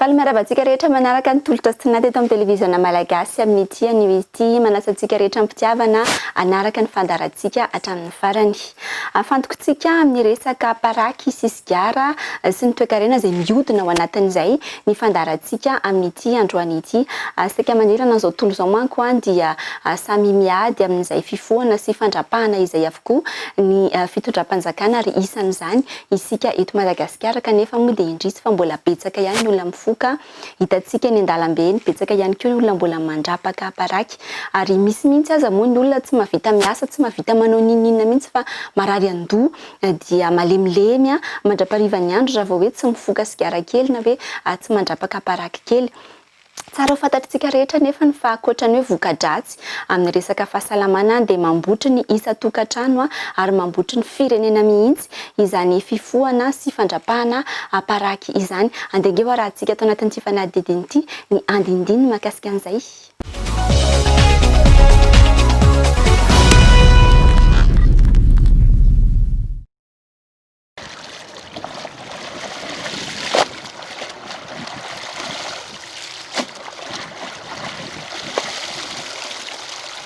Faly miarahaba antsika rehetra manaraka ny tolotra sy toniana teto amin'ny televiziona Malagasy amin'ity anio ity. Manasa antsika rehetra am-pitiavana hanaraka ny fandaharantsika hatramin'ny farany. Afantokontsika amin'ny resaka paraky sy sigara sy ny toekarena izay mihodina ao anatin'izay ny fandaharantsika amin'ity androany ity. Saika manerana izao tontolo izao manko dia samy miady amin'izay fifohana sy fandrapahana izay avokoa. koa ny fitondram-panjakana ary isan'izany isika eto Madagasikara kanefa moa dia indrisy fa mbola betsaka ihany ny olona mifoka, hitantsika eny an-dalambe eny, betsaka ihany koa ny olona mbola mandrapaka paraky ary misy mihitsy aza moa ny olona tsy mahavita miasa, tsy mahavita manao n'inon'inona mihitsy fa marary an-doha dia malemilemy mandra-parivan'ny andro raha vao hoe tsy mifoka sigara kely na hoe tsy mandrapaka paraky kely. Tsara ho fantatr'tsika rehetra anefa ny fa ankoatra ny hoe voka-dratsy amin'ny resaka fahasalamana dia mambotry ny isan-tokantrano ary mambotry ny firenena mihitsy izany fifohana sy fandrapahana aparaky izany. Andeha ange ho arahintsika ato anatin'ity fanadihadiana ity ny andinindininy mahakasika an'izay.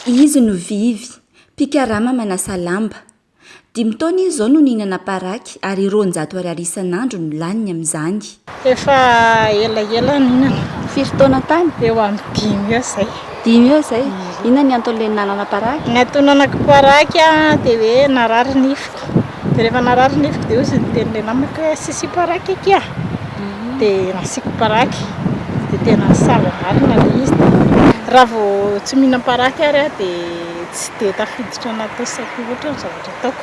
Izy no Vivy, mpikarama manasa lamba. Dimy taona izy izao no nihinana paraky ary roanjato ariary isan'andro no laniny amin'izany. Efa elaela nihinana. Firy taona tany? Eo amin'ny dimy eo izay. Dimy eo izay? Inona ny anton'ilay nihinanana paraky? Ny antonanako paraky dia hoe narary nifiko. Dia rehefa narary nifiko dia hozy niteny ilay namako hoe asisio paraky aky a. Dia nasiako paraky. Dia tena sava marina ilay izy. Raha vao tsy mihinam-paraky ary aho dia tsy dia tafiditra anaty saiko loatra ny zavatra ataoko.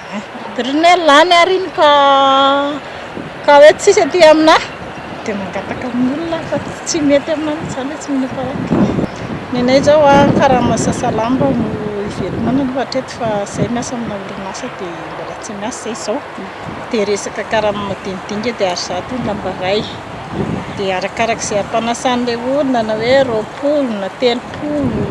Ry neny lany ary iny ka ka hoe tsisy aty aminah dia mangataka amin'ny olona aho fa tsy mety aminah mihitsy izany hoe tsy mino fa ok. Nenay izao an, karama sasa lamba no hivelomana aloha hatreto fa izahay miasa amina orinasa dia mbola tsy miasa izahay izao dia resaka karama madinidinika dia ary zato ny lamba iray dia arakarak'izay ampanasan'ilay olona na hoe roapolo na telopolo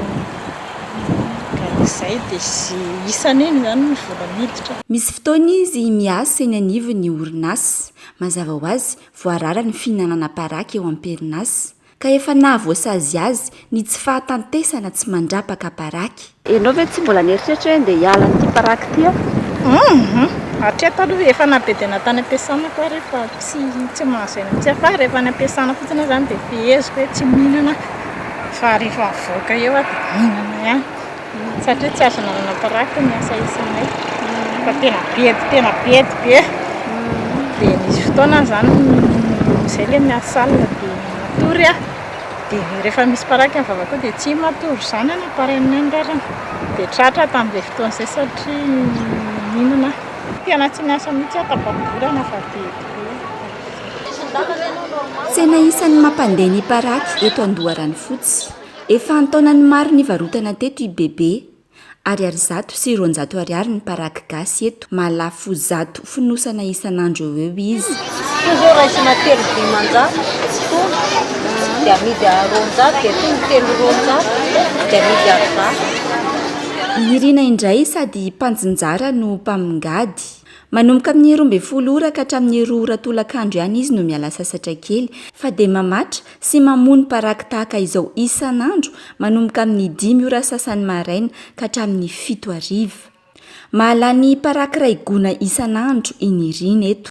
Ka izay dia sy isany eny izany ny vola miditra. Misy fotoana izy miasa eny anivon'ny orinasa. Mazava ho azy, voarara ny fihinanana paraky eo am-perinasa. Ka efa nahavoasazy azy ny tsy fahatantesana tsy mandrapaka paraky. Ianao ve tsy mbola nieritreritra hoe ndeha hiala an'ity paraky ity aho? Humm! Hatreto aloha efa na be dia na tany am-piasana ko ary fa tsy mahazo aina mihitsy aho. Fa rehefa any am-piasana fotsiny aho izany dia feheziko hoe tsy mihinana aho. Fa rehefa mivoaka eo aho dia mihinana ihany satria tsy azo nanana-paraka ny asa isanay fa tena be dia tena be dia be. Dia nisy fotoana aho izany izay ilay miady salina dia matory aho. Dia rehefa misy paraky ny vavako eo dia tsy matory izany aho namparainay ny rariny. Dia tratra aho tamin'izay fotoana izay satria nihinana aho. Tena tsy niasa mihitsy aho, tafagorana fa be dia be. Tsena isan'ny mampandeha ny paraky eto Andoharanofotsy. Efa an-taonany maro nivarotana teto i Bebe. Ariary zato sy roanjato ariary ny paraky gasy eto, mahalafo zato fonosana isan'andro eo eo izy. Toa izao raisina telo dimanjato sy tony dia amidy roanjato dia tony telo roanjato dia amidy arizato. Nirina indray sady mpanjinjara no mpamingady. Manomboka amin'ny roa ambin'ny folo ora ka hatramin'ny roa ora tolakandro ihany izy no miala sasatra kely, fa dia mamatra sy mamoa ny paraky tahaka izao isan'andro manomboka amin'ny dimy ora sasany maraina ka hatramin'ny fito hariva. Mahalany paraky iray gona isan'andro i Nirina eto.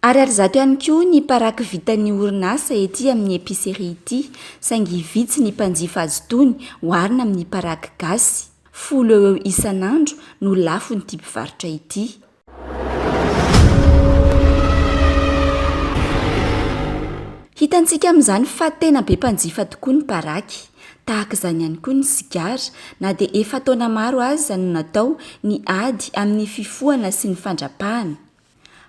Ariary zato ihany koa ny paraky vitan'ny orinasa ety amin'ny epicerie ity, saingy vitsy ny mpanjifa azy itony oharina amin'ny paraky gasy. Folo eo ho eo isan'andro no lafon'ity mpivarotra ity. Hitantsika amin'izany fa tena be mpanjifa tokoa ny paraky. Tahaka izany ihany koa ny sigara, na dia efa taona maro aza no natao ny ady amin'ny fifohana sy ny fandrapahana.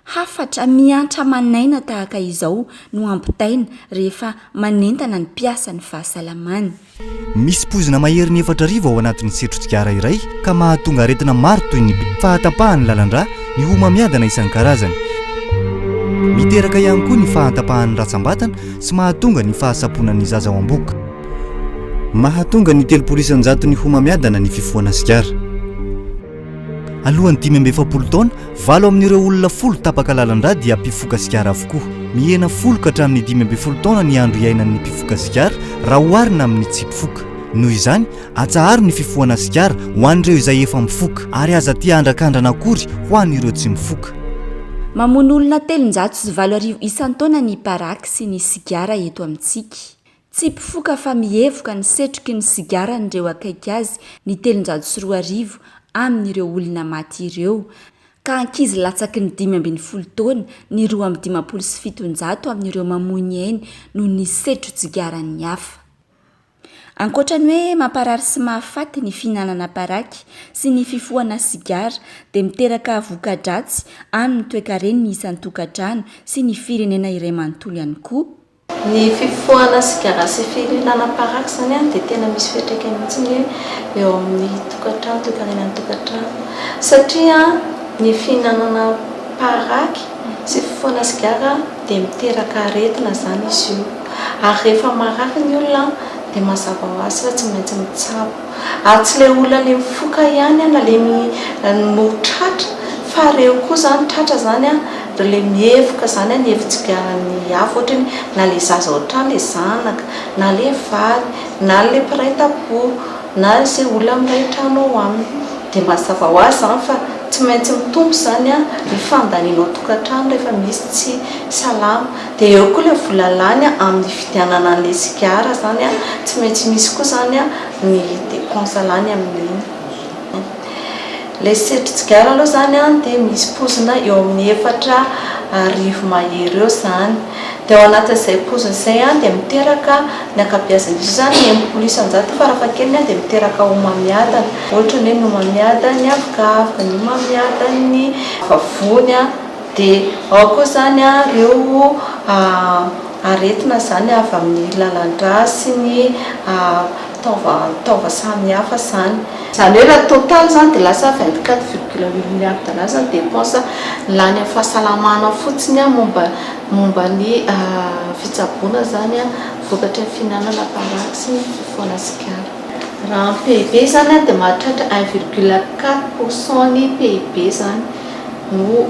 Hafatra mihantra aman'aina tahaka izao no ampitaina rehefa manentana ny mpiasa ny fahasalamany. Misy poizina maherin'ny efatra arivo ao anatin'ny setro-tsigara iray ka mahatonga aretina maro toy ny fahatapahan'ny lalan-drà, ny homamiadana isan-karazany. Miteraka ihany koa ny fahantapahan'ny ratsam-batana sy mahatonga ny fahasamponan'ny zaza ao am-bohoka. Mahatonga ny telopolo isan-jaton'ny homamiadana ny fifohana sigara. Alohan'ny dimy amby efapolo taona, valo amin'ireo olona folo tapaka lalan-drà dia mpifoka sigara avokoa. Mihena folo ka hatramin'ny dimy ambin'ny folo taona ny andro iainan'ny mpifoka sigara raha oharina amin'ny tsy mpifoka. Noho izany, atsaharo ny fifohana sigara ho an'ireo izay efa mifoka, ary aza aty andrankandrana akory ho an'ireo tsy mifoka. Mamono olona telonjato sy valo arivo isan-taona ny paraky sy ny sigara eto amintsika. Tsy mpifoka fa mihevoka ny setroky ny sigaran'ireo akaiky azy ny telonjato sy roa arivo amin'ireo olona maty ireo, ka ankizy latsaky ny dimy ambin'ny folo taona ny roa amby dimampolo sy fitonjato amin'ireo mamoy ny ainy noho ny setron-tsigaran'ny hafa. Ankoatra ny hoe mamparary sy mahafaty ny fihinanana paraky sy ny fifohana sigara dia miteraka voka-dratsy amin'ny toekareny ny isan-tokantrano sy ny firenena iray manontolo ihany koa, Ny fifohana sigara sy fihinana paraky izany dia tena misy fiantraikany mihitsy ny hoe eo amin'ny tokantrano, toe-karenan'ny tokantrano. Satria ny fihinanana paraky sy fifohana sigara dia miteraka aretina izany izy io. Ary rehefa marary ny olona dia mazava ho azy fa tsy maintsy mitsabo. Ary tsy le olona le mifoka ihany an na le mi no tratra fa reo koa zany tratra zany an reo le mievoka zany an ny hevitsigaran'ny hafa ohatra hoe na le zaza ao an-trano le zanaka na le vady na le mpiray tampo na ze olona miray trano ao aminy de mazava ho azy zany fa tsy maintsy mitombo zany an ny fandaniana ao an-tokantrano rehefa misy tsy salama Dia eo koa ilay vola lany amin'ny fividianana an'ilay sigara izany an, tsy maintsy misy koa izany ny dépense lany amin'iny. Ilay setrin-tsigara aloha izany dia misy pozina eo amin'ny efatra arivo mahery eo izany. Dia ao anatin'izay pozina izay dia miteraka, ny ankabeazan'izy io izany enimpolo isan-jato farafahakeliny dia miteraka homamiadana. Ohatra ny hoe ny homamiadan'ny avokavoka, ny homamiadan'ny vavony, Dia ao koa izany ireo aretina izany avy amin'ny lalan-drà sy ny taova samihafa izany. Izany hoe raha total izany dia lasa vingt quatre virgule huit milliards dollars izany dépense lany amin'ny fahasalamana fotsiny momba momba ny fitsaboana izany vokatry ny fihinanana paraky sy ny fifohana sigara. Raha amin'ny PIB izany dia mahatratra un virgule quatre pour cent ny PIB izany. no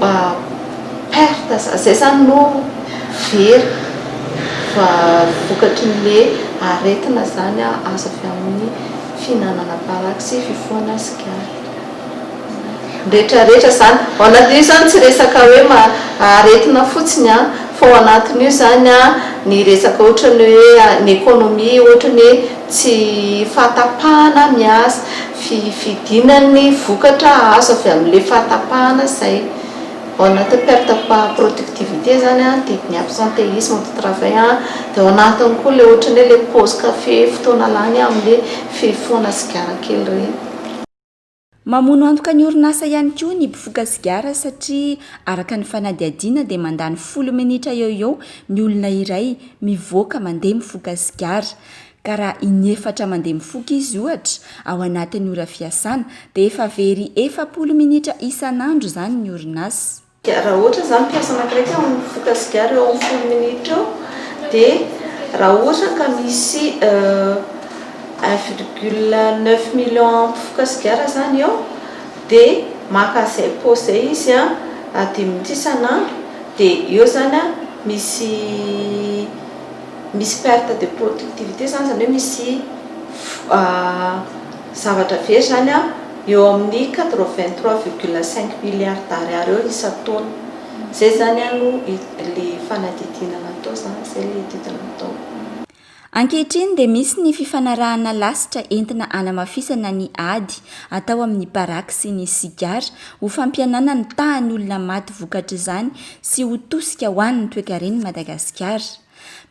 perte zay zany no very vokatry ny le aretina zany azo avy amin'ny fihinanana paraky sy fifohana sigara retraretra zany ao anatin'io zany tsy resaka hoe aretina fotsiny an fa ao anatin'io zany an ny resaka ohatrany hoe ny economie ohatrany hoe tsy fahatapahana ny asa fifidiana ny vokatra azo avy amin'ilay fahatapahana izay ao anatin'ny perte de productivité izany an, dia ny absentéisme de travail an, dia ao anatiny koa ilay ohatran'ny hoe ilay pause café fotoana lany amin'ilay fifohana sigara kely ireny. Mamono antoka ny orinasa ihany koa ny mpifoka sigara satria araka ny fanadihadiana dia mandany folo minitra eo ho eo ny olona iray mivoaka mandeha mifoka sigara. Ka raha inefatra mandeha mifoka izy, ohatra, ao anatin'ny ora fiasana, dia efa very efapolo minitra isan'andro izany ny orinasa. Dia raha ohatra izany mpiasa anankiray ka mifoka sigara eo amin'ny folo minitra eo, dia raha ohatra ka misy un virgule neuf million mpifoka sigara izany eo, dia maka izay paosy izay izy dimy minitra isan'andro, dia eo izany misy. Misy perte de productivité zany, zany hoe misy zavatra very zany an, eo amin'ny quatre vingt trois virgule cinq milliards d'ariary eo isan-taona. Izay zany aloha ilay fanadihadiana natao zany, izay ilay etude natao. Ankehitriny dia misy ny fifanarahana lasitra entina hanamafisana ny ady atao amin'ny baraky sy ny sigara ho fampihenana ny tahan'ny olona maty vokatr'izany sy ho tosika ho an'ny toekaren'i Madagasikara.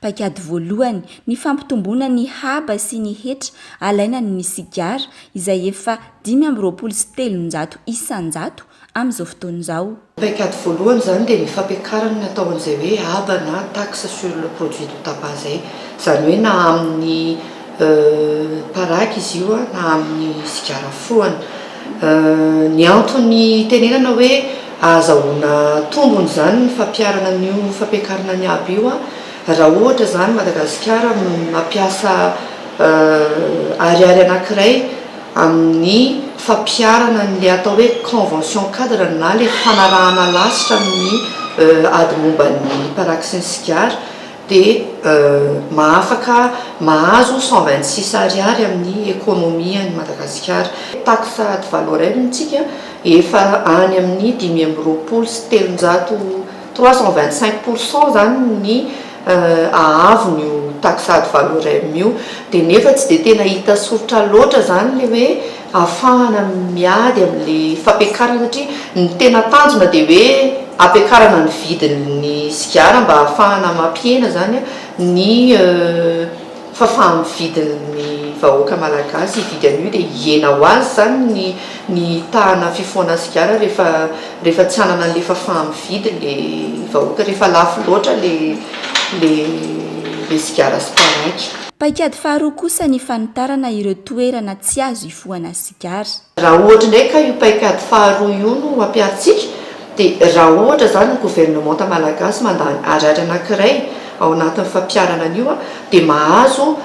Paikady voalohany, ny fampitomboana ny haba sy ny hetra alaina ny ny sigara izay efa dimy amby roapolo sy telonjato isan-jato amin'izao fotoana izao. Ny paikady voalohany izany dia ny fampiakarana ny atao an'izay hoe haba na taxe sur le produit du tabac izay. Izany hoe na amin'ny Paraky izy io na amin'ny sigara foana. Ny antony itenenana hoe ahazahoana tombony izany ny fampiharana an'io fampiakarana ny haba io, raha ohatra izany Madagasikara mampiasa ariary anankiray amin'ny fampiharana an'ilay atao hoe convention cadre na ilay fanarahana lasitra amin'ny ady momba ny paraky sy ny sigara, dia mahafaka mahazo cent vingt six ariary amin'ny economie an'i Madagasikara. Taxe ad valorem ntsika efa any amin'ny dimy amby roapolo sy telonjato, trois cent vingt cinq pour cent izany ny haavon'io taxe ad valorem io, dia nefa tsy dia tena hita soritra loatra izany ilay hoe. ahafahana miady amin'ilay fampiakarana satria ny tena tanjona dia hoe ampiakarana ny vidin'ny sigara mba ahafahana mampihena izany ny fahafaha-mividin'ny vahoaka malagasy hividy an'io dia hihena ho azy izany ny ny tahana fifohana sigara rehefa rehefa tsy hanana an'ilay fahafaha-mividy ilay vahoaka rehefa lafo loatra ilay ilay ilay sigara sy paraky. Paikady faharoa kosa ny fanitarana ireo toerana tsy azo ifohana sigara. Raha ohatra indray ka io paikady faharoa io no ampiharintsika dia raha ohatra izany ny governemanta malagasy mandany ariary anankiray ao anatin'ny fampiharana an'io dia mahazo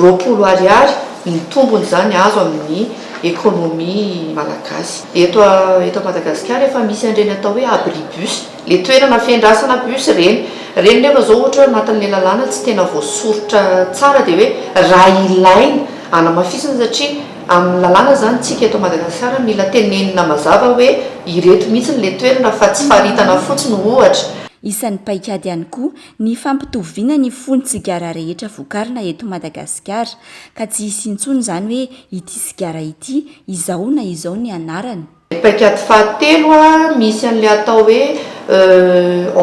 roapolo ariary ny tombony izany azo amin'ny economie malagasy. Eto eto Madagasikara efa misy an'ireny atao hoe abribus. Le toerana fiandrasana bus reny. Reny nefa zao ohatra hoe anatin'le lalàna tsy tena voasoritra tsara de hoe raha ilaina anamafisina satria amin'ny lalàna izany tsika eto Madagasikara mila tenenina mazava hoe ireto mihitsiny le toerana fa tsy faritana fotsiny ohatra. Isan'ny paikady ihany koa ny fampitoviana ny fon'ny sigara rehetra vokarina eto Madagasikara ka tsy hisy intsony izany hoe ity sigara ity izao na izao ny anarany. Ny paikady fahatelo a, misy an'ilay atao hoe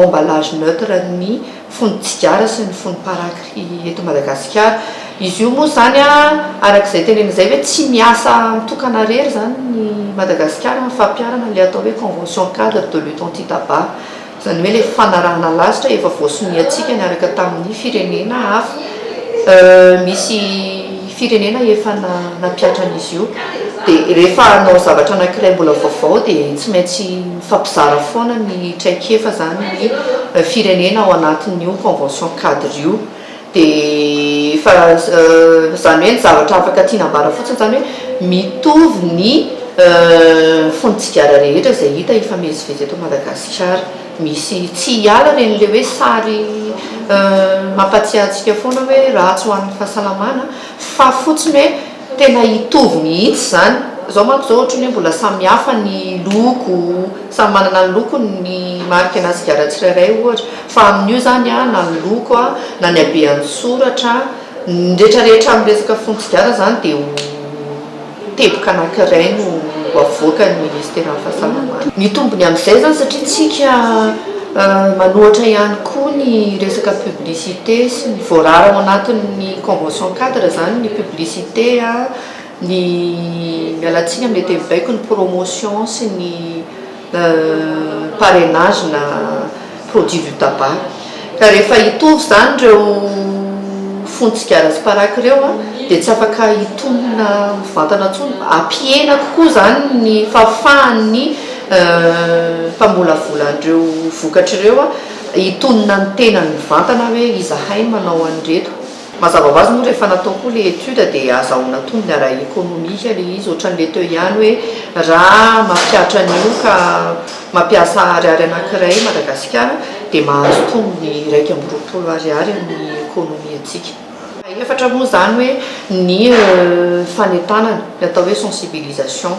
emballage neutre ny fon'ny tsigara sy ny fon'ny paraky eto Madagasikara. Izy io moa izany a, araka izay tenenina izay ve tsy miasa mitokana irery izany i Madagasikara amin'ny fampiharana ilay atao hoe convention cadre de lutte anti-tabac. Izany hoe ilay fanarahana lasitra efa voasoniantsika niaraka tamin'ny firenena hafa. Misy firenena efa nampihatra an'izy io. Dia rehefa hanao zavatra anankiray mbola vaovao dia tsy maintsy mifampizara foana ny traikefa izany ny firenena ao anatin'io convention cadre io. Dia fa izany hoe ny zavatra afaka tiana ambara fotsiny izany hoe mitovy ny fon'ny tsigara rehetra izay hita hifamezivezy eto Madagasikara. Misy tsy hiala ary an'ilay hoe sary mampatsiahy antsika foana hoe ratsy ho an'ny fahasalamana fa fotsiny hoe Tena hitovy mihitsy izany. Izao manko izao ohatry ny hoe mbola samy hafa ny loko, samy manana ny lokony ny marika na sigara tsirairay ohatra, fa amin'io izany na ny loko na ny habean'ny soratra, ny retraretra amin'ny resaka fonon-tsigara izany dia ho teboka anankiray no ho avoakan'ny Ministeran'ny Fahasalamana. Mitombo ny amin'izay izany satria isika manohatra ihany koa ny resaka publicité sy ny voarara ao anatin'ny Convention cadre zany ny publicité a, ny miala tsiny amin'ny teny baiko ny promotion sy ny parrainage na produit du tabac ka rehefa hitovy zany ireo fon'ny tsigara sy paraky ireo a dia tsy afaka hitomina mivantana tsony hampihena kokoa zany ny fahafahan'ny mpambolavola an'ireo vokatra ireo a. Hitonona ny tenany mivantana hoe izahay no manao an'ireto. Mazava ho azy moa rehefa natao koa ilay étude dia azahoana tombony ara ekonomika ilay izy, ohatran'ilay teo ihany hoe raha mampihatra an'io ka mampiasa ariary anankiray Madagasikara dia mahazo tombony iraika amby roapolo ariary amin'ny ekonomiantsika. Fahefatra moa izany hoe ny fanentanana, ny atao hoe sensibilisation.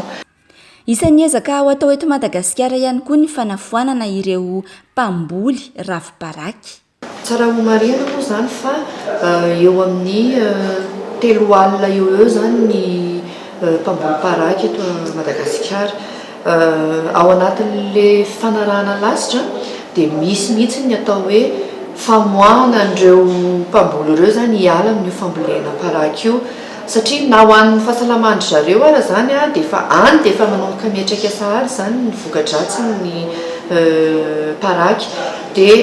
Isan'ny ezaka ho atao eto Madagasikara ihany koa ny fanafoanana ireo mpamboly rafi-baraky. Tsara homarihina moa izany fa eo amin'ny telo alina eo ho eo izany ny mpamboly paraky eto Madagasikara. Ao anatin'ilay fanarahana lasitra dia misy mihitsy ny atao hoe famoahana an'ireo mpamboly ireo izany hiala amin'io fambolena paraky io. Satria na ho an'ny fahasalaman-dry zareo ara izany dia efa any dia efa manomboka miantraika sahady izany ny voka-dratsin'ny paraky. Dia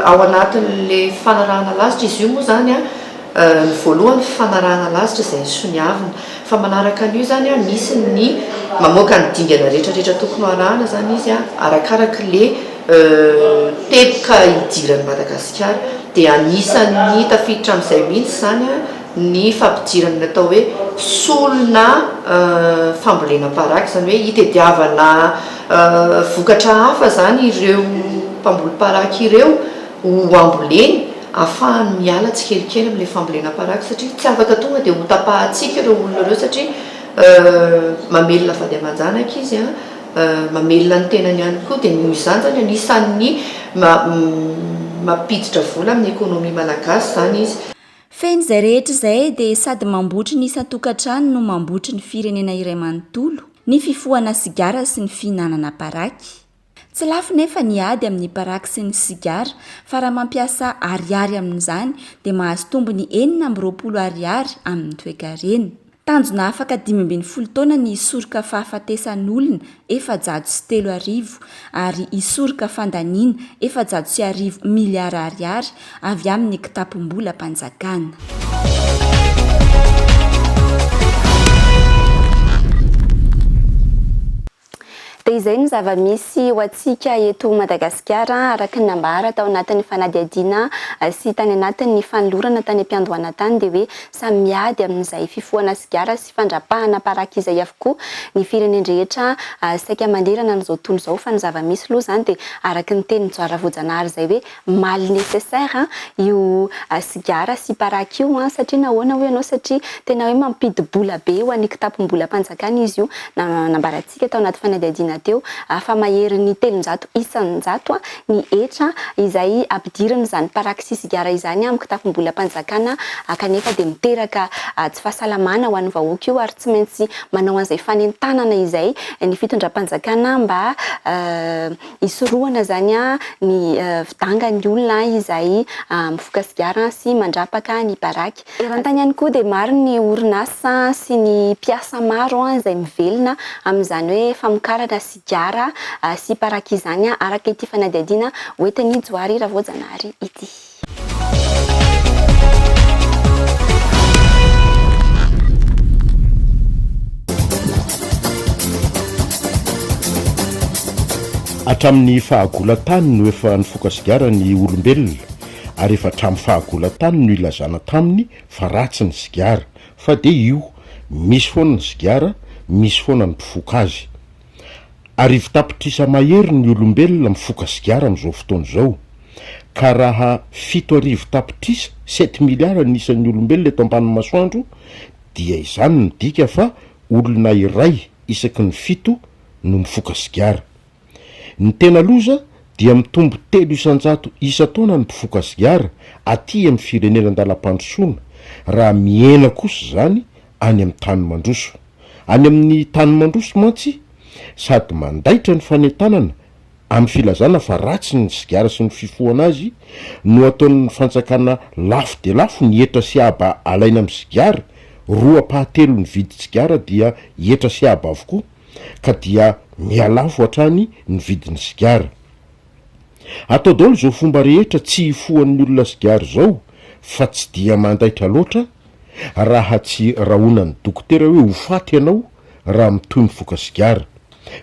ao anatin'ilay fanarahana lasitra izy io moa izany ny voalohany fanarahana lasitra izay soniavina. Fa manaraka an'io izany misy ny mamoaka ny dingana rehetra rehetra tokony ho arahana izany izy arakaraka ilay teboka idiran'i Madagasikara. Dia anisan'ny tafiditra amin'izay mihitsy izany. ny fampidirana ny atao hoe solona fambolena paraky, izany hoe hitadiavana vokatra hafa izany ireo mpamboly paraky ireo ho amboleny afahany miala tsikelikely amin'ilay fambolena paraky satria tsy afaka tonga dia ho tapahantsika ireo olona ireo satria mamelona vady aman-janaka izy an, mamelona ny tenany ihany koa dia noho izany izany anisan'ny mampiditra vola amin'ny ekonomia malagasy izany izy. Fehiny izay rehetra izay dia sady mambotry ny isan-tokantrano no mambotry ny firenena iray manontolo ny fifohana sigara sy ny fihinanana paraky. Tsy lafo nefa ny ady amin'ny paraky sy ny sigara fa raha mampiasa ariary amin'izany dia mahazo tombony enina amby roapolo ariary amin'ny toekarena. Tanjona afaka dimy ambin'ny folo taona ny hisoroka fahafatesan'olona efajato sy telo arivo ary hisoroka fandaniana efajato sy arivo miliara ariary avy amin'ny kitapom-bolam-panjakana. Dia izay no zava-misy ho antsika eto Madagasikara, araka ny nambara tao anatin'ny fanadihadiana sy tany anatin'ny fanolorana tany am-piandohana tany dia hoe samy miady amin'izay fifohana sigara sy fandrapahana paraky izay avokoa ny firenen-drehetra saika manerana an'izao tontolo izao fa ny zava-misy loha izany dia araka ny tenin'i Joara Voajanahary izay hoe mal necessaire an io sigara sy paraky io an, satria nahoana hoy ianao satria tena hoe mampidi bola be ho an'ny kitapom-bolam panjakana izy io, nambarantsika tao anaty fanadihadiana teo fa maherin'ny telonjato isan-jato an ny hetra izay ampidirina izany paraky sy sigara izany amin'ny kitapom-bolam panjakana kanefa dia miteraka tsy fahasalamana ho an'ny vahoaka io ary tsy maintsy manao an'izay fanentanana izay ny fitondram panjakana mba Hisorohana izany ny fidangan'ny olona izay mifoka sigara sy mandrapaka ny baraky. Eran-tany ihany koa dia maro ny orinasa sy ny mpiasa maro izay mivelona amin'izany hoe famokarana sigara sy baraky izany, araka ity fanadihadiana hoentin'i Johary Ravoajanahary ity. Malagasy. Hatramin'ny fahagolan-tany no efa nifoka sigara ny olombelona, ary efa hatramin'ny fahagolan-tany no ilazana taminy fa ratsy ny sigara, fa dia io, misy foana ny sigara, misy foana ny mpifoka azy. Arivo tapitrisa mahery ny olombelona mifoka sigara amin'izao fotoana izao, ka raha fito arivo tapitrisa, sept milliards, ny isan'ny olombelona eto ambanin'ny masoandro, dia izany midika fa olona iray isaky ny fito no mifoka sigara. Ny tena loza dia mitombo telo isan-jato isan-taona ny mpifoka sigara aty amin'ny firenena an-dalam-pandrosoana, raha mihena kosa izany any amin'ny tany mandroso. Any amin'ny tany mandroso mantsy, sady mandaitra ny fanentanana, amin'ny filazana fa ratsy ny sigara sy ny fifohana azy, no ataon'ny fantsakana lafo dia lafo ny hetra sy haba alaina amin'ny sigara, roapahatelon'ny vidin-tsigara dia hetra sy haba avokoa, ka dia mihalafo hatrany ny vidin'ny sigara. Atao daolo zao fomba rehetra tsy hifohan'ny olona sigaro zao fa tsy dia mandaitra loatra raha tsy rahonan'ny dokotera hoe ho faty ianao raha mitohy mifoka sigara.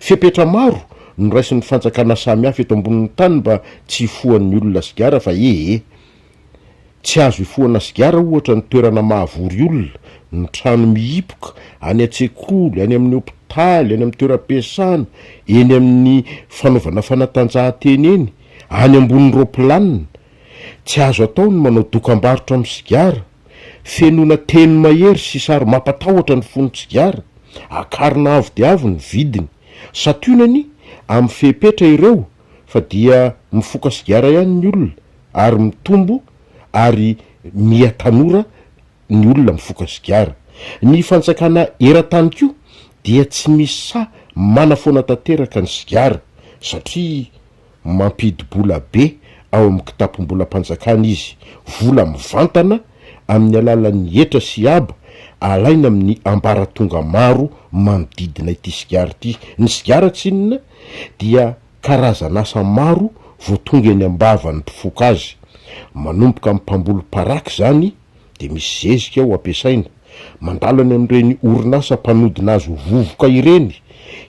Fepetra maro no raisin'ny fanjakana samihafa eto ambonin'ny tany mba tsy hifohan'ny olona sigara fa ee. Tsy azo ifohana sigara ohatra ny toerana mahavory olona, ny trano mihipoka, any an-tsekoly, any amin'ny hopitaly, any amin'ny toeram-piasana, eny amin'ny fanaovana fanatanjahantena eny, any ambonin'ny roapilanina. Tsy azo atao ny manao dokambarotra amin'ny sigara. Fenoina teny mahery sy sary mampatahotra ny fonon-tsigara. Akarina avo dia avo ny vidiny. Santionany amin'ny fepetra ireo fa dia mifoka sigara ihany ny olona ary mitombo ary miha tanora ny olona mifoka sigara. Ny fanjakana eran-tany koa dia tsy misy sahy manafoana tanteraka ny sigara satria mampidibola be ao amin'ny kitapom-bolam-panjakana izy, vola mivantana, amin'ny alalan'ny hetra sy haba alaina amin'ny ambaratonga maro manodidina ity sigara ity. Ny sigara tsy inona dia karazan'asa maro vao tonga eny am-bavan'ny mpifoka azy. Manomboka amin'ny mpamboly paraky izany dia misy zezika ao ampiasaina. Mandalo any amin'ireny orinasa mpanodina azy ho vovoka ireny,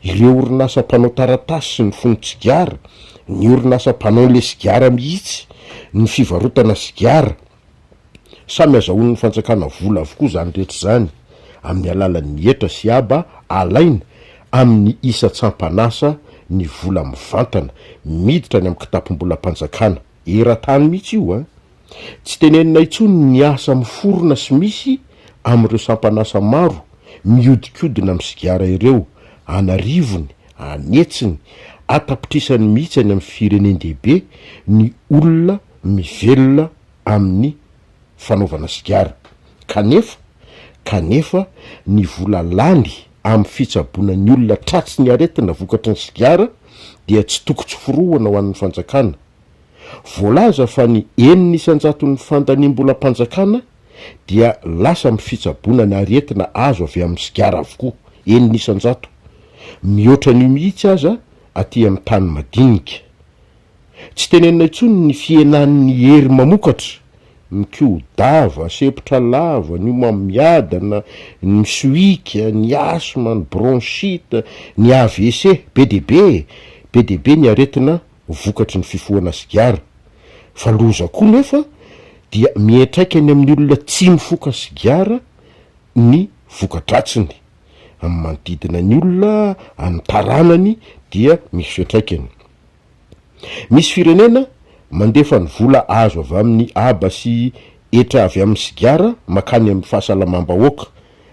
ireo orinasa mpanao taratasy sy ny fonon-tsigara, ny orinasa mpanao ilay sigara mihitsy, ny fivarotana sigara. Samy azahoan'ny fanjakana vola avokoa izany rehetra izany amin'ny alalan'ny hetra sy haba alaina amin'ny isan-tsampan'asa ny vola mivantana miditra any amin'ny kitapom-bolam-panjakana, eran-tany mihitsy io a! Tsy tenenina intsony ny asa miforona sy misy amin'ireo sampan'asa maro mihodinkodina amin'ny sigara ireo, an'arivony, an'hetsiny, an-tapitrisany mihitsy any amin'ny firenen-dehibe ny olona mivelona amin'ny fanaovana sigara, kanefa kanefa ny vola lany amin'ny fitsaboana ny olona tratry ny aretina vokatry ny sigara dia tsy toko tsy forohana ho an'ny fanjakana. Voalaza fa ny enina isan-jaton'ny fandaniam-bolam-panjakana dia lasa amin'ny fitsaboana ny aretina azo avy amin'ny sigara avokoa, enina isan-jato. Mihoatra an'io mihitsy aza aty amin'ny tany madinika. Tsy tenenina intsony ny fihenan'ny hery mamokatra, ny kio-dava, sepotra lava, ny homamiadana, ny misohika, ny asma, ny bronchite, ny AVC. Be dia be e! Be dia be ny aretina vokatry ny fifohana sigara. Fa loza koa nefa dia miantraika ny amin'ny olona tsy mifoka sigara ny voka-dratsiny. Amin'ny manodidina ny olona, amin'ny taranany dia misy fiantraikany. Misy firenena mandefa ny vola azo avy amin'ny haba sy hetra avy amin'ny sigara mankany amin'ny fahasalamam-bahoaka.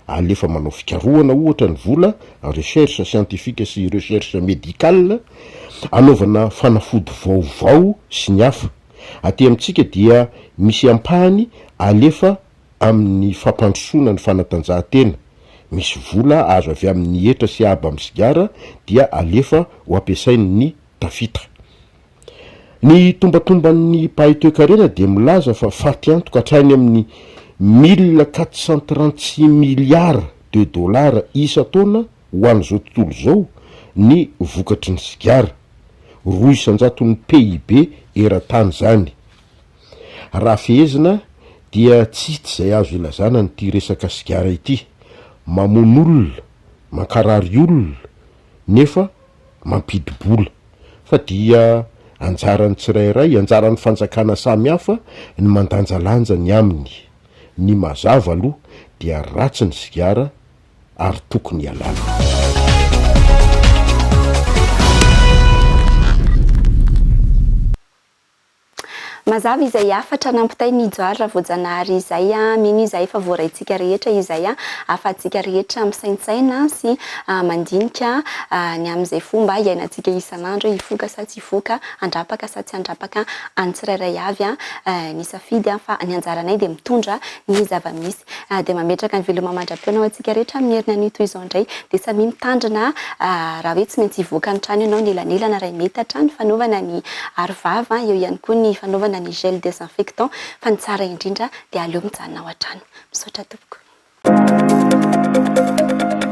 Alefa manao fikarohana ohatra ny vola, recherche scientifique sy recherche médicale, anaovana fanafody vaovao sy ny hafa. Aty amintsika dia misy ampahany alefa amin'ny fampandrosoana ny fanatanjahantena, misy vola azo avy amin'ny hetra sy haba amin'ny sigara dia alefa ho ampiasain' ny tafita. Ny tombatomban'ny mpahay toekarena dia milaza fa faty antoka hatrany amin'ny mille quatre cent trente six milliards de dollars isan-taona ho an'izao tontolo izao ny vokatry ny sigara, roa isan-jaton'ny PIB eran-tany izany. Raha fehezina dia tsisty izay azo ilazana an'ity resaka sigara ity, mamono olona, mankarary olona nefa mampidi-bola. Fa dia anjaran'ny tsirairay, anjaran'ny fanjakana samy hafa ny mandanjalanja ny aminy. Ny mazava aloha dia ratsy ny sigara ary tokony ialana. Mazava izay hafatra nampitainy i Johary Ravoajanahary izay. Mino izahay fa voaraintsika rehetra izay ahafahantsika rehetra misaintsaina sy mandinika ny amin'izay fomba iainantsika isan'andro hoe hifoka sa tsy hifoka, handrapaka sa tsy handrapaka. An'ny tsirairay avy ny safidy fa ny anjaranay dia mitondra ny zava-misy dia mametraka ny veloma mandra-pihaona ho antsika rehetra amin'ny heriny anio toy izao indray dia samia mitandrina raha hoe tsy maintsy hivoaka ny trano ianao ny elanelana iray metatra ny fanaovana ny arovava eo ihany koa ny fanaovana ny gel desinfectant fa ny tsara indrindra dia aleo mijanona ao an-trano misaotra tompoko